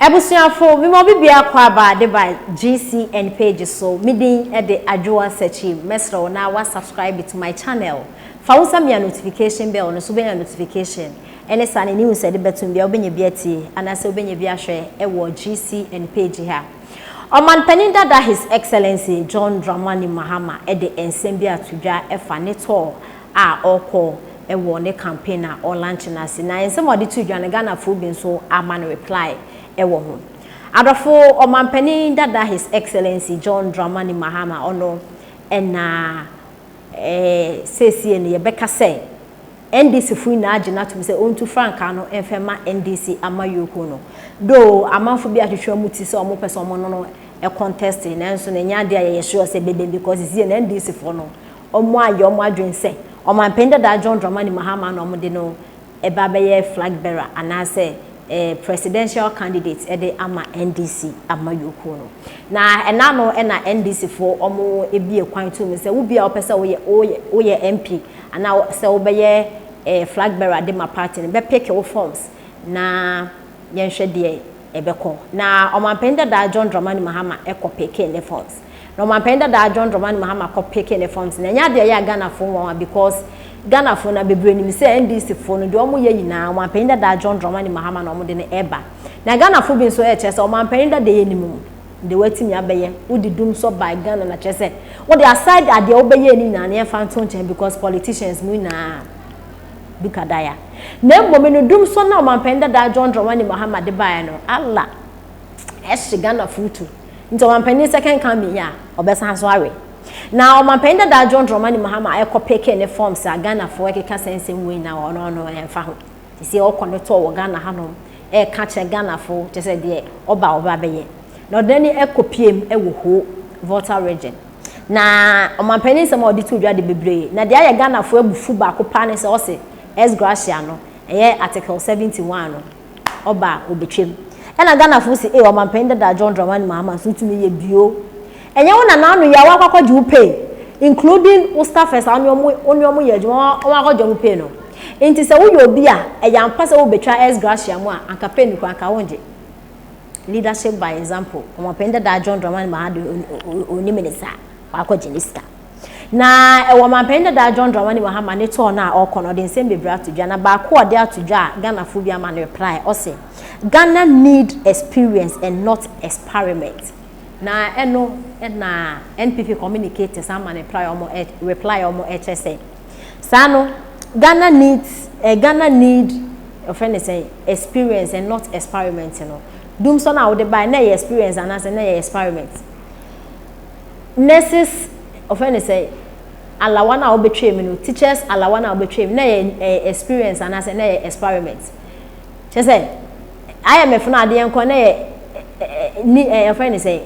Abusuafo, mema obi biara kɔ aba ade ba GCN page so, me din de Adwoa Sakyim, mɛsrɛ wo na wa subscribe to my channel, fa wo nsa mia notification bell no so wobɛnya notification ɛne saa ne news ɛde bɛtom biara wobɛnya bi atie anaasɛ wobɛnya bi ahwɛ ɛwɔ GCN page ha. Ɔmanpanin dada His Excellency John Dramani Mahama de nsɛm bi ato dwa ɛfa ne tɔɔ a ɔkɔ wɔ ne campaign a ɔlanche no ase na nsɛm a ɔde too dwa no Ghanafoɔ bi nso ama no reply wɔ ho. Adɔfo Ɔmanpanin dada His Excellency John Dramani Mahama ɔno na eh, seesie no yɛbɛka sɛ NDC foɔ nyinaa gye no atom sɛ ɔntu frankaa no mfa ma NDC amayuokuo no. Though amanfo bi atwetwe wɔn ti sɛ wɔpɛ sɛ wɔne no contest nanso no ɛnyɛ adeɛ a yɛyɛ sure sɛ ɛbɛbam because seesie no NDC foɔ no wɔayɛ wɔn adwene sɛ Ɔmanpanin dadaa John Dramani Mahama na wɔde no reba abɛyɛ flag bearer anaasɛ Presidential candidate de ama NDC amayɔkuo no. Na ɛna ano na NDC foɔ wɔbue kwan too mu sɛ wo biara wopɛ sɛ woyɛ woyɛ woyɛ MP anaa sɛ wobɛyɛ flag bearer de ma party no bɛpeke wo forms na yɛnhwɛ deɛ ɛbɛkɔ. Na Ɔmanpanin dadaa John Dramani Mahama kɔ peke ne forms. Na ɔmanpanyin dadaa John Dramani Mahama kɔ peke ne fam sene. Ɛnyɛ ade a ɛyɛ a Ghanafo nwanwa because Ghanafo na bebree nim sɛ NDC fo no deɛ wɔn yɛ nyinaa ɔmanpanyin dadaa John Dramani Mahama na wɔn de no ɛba. Na Ghanafo bi nso ɛkyerɛ sɛ ɔmanpanyin dadaa yɛ nim deɛ watumi abɛyɛ. Wode dum sɔ bag Ghana na kyerɛ sɛ wode aside adeɛ wobɛyɛɛ no nyinaa no yɛmfa nto nkyɛn because politicians mo nyinaa duka daya. Na mmom no dum sɔ na ɔmanpanyin dadaa John Dramani Mahama de baeɛ no Allah ɛhye Ghanafo tu. Nti ɔmanpanin second coming yi a ɔbɛsan nso awe. Na ɔmanpanin dadaa John Dramani Mahama ɛkɔ peke ne forms a Ghanafoɔ ɛkeka saa nsɛm wei nyinaa wɔ ɔno ɔno ɛnfa ho. Sisi ɔkɔ ne tour wɔ Ghana hanom ɛɛka kyerɛ Ghanafoɔ kyerɛ sɛ deɛ ɔba ɔba bɛyɛ. Na ɔde n'ani ɛkɔ piem ɛwɔ Ho, Volta region. Na ɔmanpanin nsɛm a ɔde too dwa de bebree. Na deɛ ayɛ Ghanafoɔ abufu baako paa ne sɛ ɔse S. Gratia no ɛyɛ Article 71 no ɔba a ɔbɛtwam. Ɛna Ghanafoɔ se ee ɔmanpanin dada John Dramani Mahama nso tumi yɛ bio. Ɛnyɛ wo nana ano yɛ a woakɔ akɔgye wo pay including wo staffers a wone wɔn wone wɔn yɛ adwuma wɔn akɔgye wɔn pay no. Nti sɛ woyɛ obi a ɛyɛ ampa sɛ wobɛtwa ex gratia mu a anka pay no koraa anka wongye. Leadership by example, ɔmanpanin dada John Dramani Mahama deɛ ɔnim ne saa, wakɔgye ne sika. Na ɛwɔ Ɔmanpanin Dadaa John Dramani Mahama ne tour no a ɔrekɔ no, ɔde nsɛm bebree ato dwa, na baako a ɔde ato dwa a Ghanafoɔ bi ama no reply, ɔse, Ghana need experience and not experiment. Na ɛno na NPP communicators ama no reply a wɔn reply a wɔn rekyerɛ sɛ, saa no, Ghana needs, eh, Ghana need, ɔfrɛ no sɛ, experience and not experiment no, Dumsor no a wode baeɛ, na ɛyɛ experience anaasɛ na ɛyɛ experiment? nurses wɔfrɛ no sɛn alawa no a wobɛtwaa mu no teachers alawa no a wobɛtwaa mu na ɛyɛ ɛyɛ experience anaasɛ na ɛyɛ experiment kyɛ sɛ IMF no adeɛ nkɔ na ɛyɛ ni ɛyɛ wɔfrɛ no sɛn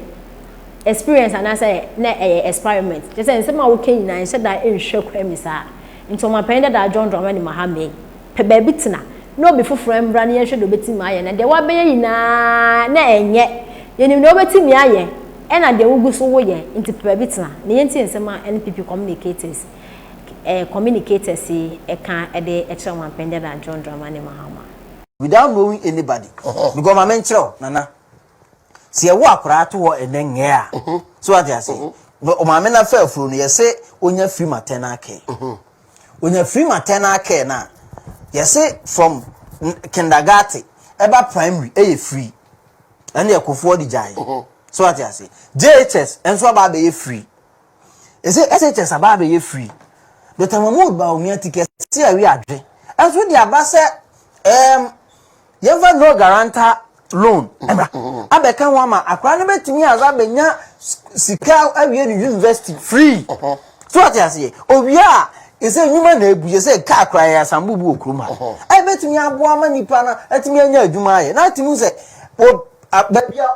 experience anaasɛ na ɛyɛ experiment kyɛ sɛ nsɛm a woka nyinaa nhyɛ da nhwɛ kwan mu saa Nti Ɔmanpanyin Dadaa John Dramani Mahama yi, pɛ baabi tena na obi foforɔ mbra na yɛnhwɛ deɛ obetumi ayɛ na deɛ wabɛyɛ nyinaa na ɛnyɛ, yɛnim deɛ wobetumi ayɛ ɛna deɛ wogu so woyɛ nti pɛ baabi tena na yɛntie nsɛm a NPP Communicators eh, Communicators yi ɛka ɛde ɛkyerɛ Ɔmanpanyin Dadaa John Dramani Mahama. Without knowing anybody, me go ma menkyerɛ wo, Nana. sɛ yɛwo akoraa to hɔ ɛnɛ ngɛɛ a so wate ase na ɔmaame no afa afuro no yɛse onya free maternal care onya free maternal care no a yɛse from kindergarten ɛba primary ɛyɛ free ɛne ɛkofoɔ de gyae so wate ase JHS ɛnso aba abɛyɛ free ɛsɛ SHS aba abɛyɛ free Dr. Mahmoud Bawumia ti kɛse awi adwe ɛnso de aba sɛ ɛɛm yɛmfa no guarantor loan ɛma abɛka ho ama akwadaa no bɛtumi adze abɛnya sika awie no university free so ate aseɛ owie a ɛsɛ nnwuma na ebu yɛ sɛ kaa koraa yɛ asambo bi wɔ kurom ha ɛbɛtumi aboa ma nipa no atumi anya adwuma ayɛ na atumi sɛ baabi a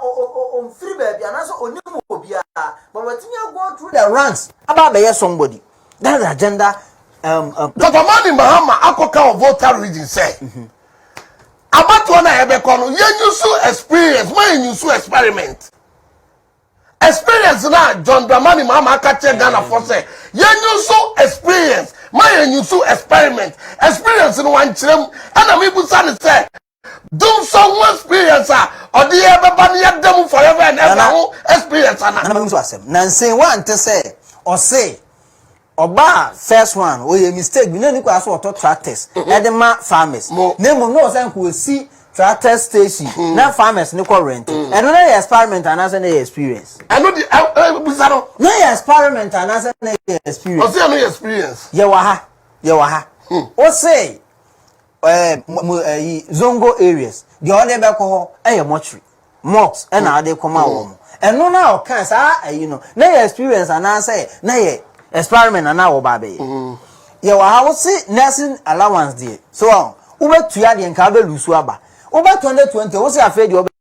ɔmfiri baabi anaasɛ ɔnim obiara but watumi ago through the ranks aba abɛyɛ somebody that's the agenda um, um, Papa Mani Mahama akɔka wɔ Volta region sɛ mm -hmm. abatoɔ no a yɛbɛkɔ no yɛnyusu experience ma yɛnyusu experiment experience no a john dramani maama aka kyerɛ ghanafoɔ sɛ yɛnyusu experience ma yɛnyusu experiment experience no wankyerɛ mu ɛna mebusa no sɛ dumsɔ ho experience a ɔde yɛ bɛba no yɛda mu forever and ever ho experience ana nana mehu so asɛm nansen wante sɛ ɔse Ɔbaa first one ɔyɛ mistake bi na ɔni kwan sɛ ɔtɔ tractors ɛde ma farmers na mmom na ɔwɔ sɛ nka ɔsi tractor station na farmers no kɔ rent ɛno na yɛ experiment anaasɛ na yɛ experience. Ɛno de ɛ ɛ bisa no. Na yɛ experiment anaasɛ na yɛ experience. Ɔsi ɛno yɛ experience. Yɛ wɔ ha yɛ wɔ ha. Ɔsi. Ɛɛ mo mo ɛyi zongo areas deɛ ɔde bɛkɔ hɔ ɛyɛ mortuary mocks ɛna mm. ade kɔma mm. wɔn ɛno na ɔka saa ɛyi no na yɛ experience anaasɛ na yɛ experiment na na wɔba abɛyɛ mm. yɛ wɔ ha wose nursing allowance deɛ so wɔn wobɛtua deɛ nka abɛlusu aba wobɛtɔn de twenty wose afei deɛ ɔbɛ.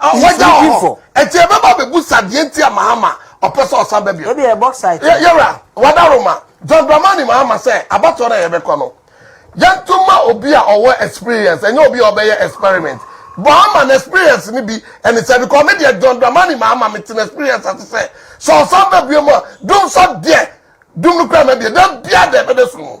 Ɔhɔgya wɔ hɔ. Enti yɛbɛba abɛbusa deɛ nti a Mahama ɔpɛ sɛ ɔsan ba bio. Ebi yɛ bauxite. Yɛ yɛwura Wadaro ma John Dramani Mahama sɛ abatoɔ no a yɛbɛkɔ no yɛnto ma obi a ɔwɔ experience ɛnyɛ obi a ɔbɛyɛ experiment. Mahama no experience no bi ɛne sɛ because me deɛ John Dramani Mahama mete no experience ase sɛ sɛ ɔsan ba bio mu a dum sɔ deɛ dum no kura mɛbie da biara da ɛbɛda sum mu.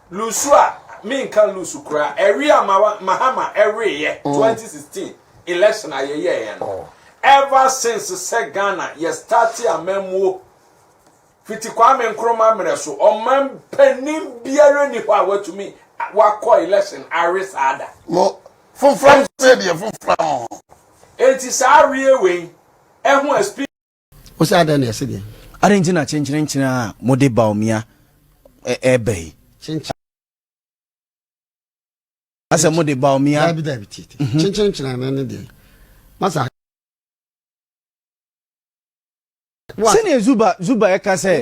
Lusu a menka lusu koraa ɛwe a Mahama ɛweeɛ 2016 election a yɛyɛeɛ no ever since sɛ Ghana yɛ start amammuo fiti Kwame Nkrumah mmerɛ so ɔman panin biara ni hɔ a watumi wakɔ election awe saa da mo foforɔ nso yɛ deɛ foforɔ mo enti saa aweɛ wei ɛho experience Wo sɛ adɛn na ɛse deɛ? Adɛn nti na kyenkyerenkyere a mode Baomia ɛreba yi? Kyenkyerenkyere asɛ mo de ba omi a. dabi dabi titi mhm. kyenkyen kyerɛ ne ne deɛ masa. sɛnea zuba zuba ɛka sɛ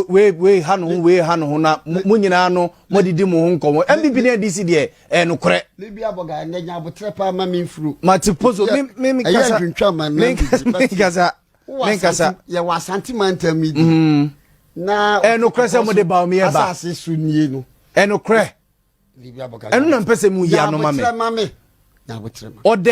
wei wei ha no ho wei ha no ho na mo nyinaa no mo didi mo ho nkɔmɔ npp ne adc deɛ ɛyɛ nokorɛ mebi abɔga ɛnɛ nya aboterɛ paa ma memfuro mate po so ɛyɛ ntwintwa ma nankasa menkasa yɛwɔ asante mantam mi di mm-hmm. na ɛyɛ nokorɛ sɛ mode ba ɔmeyɛ ba asase so nie no ɛyɛ nokorɛ ɛno na mpɛ sɛ mu yia no ma me ɔdɛ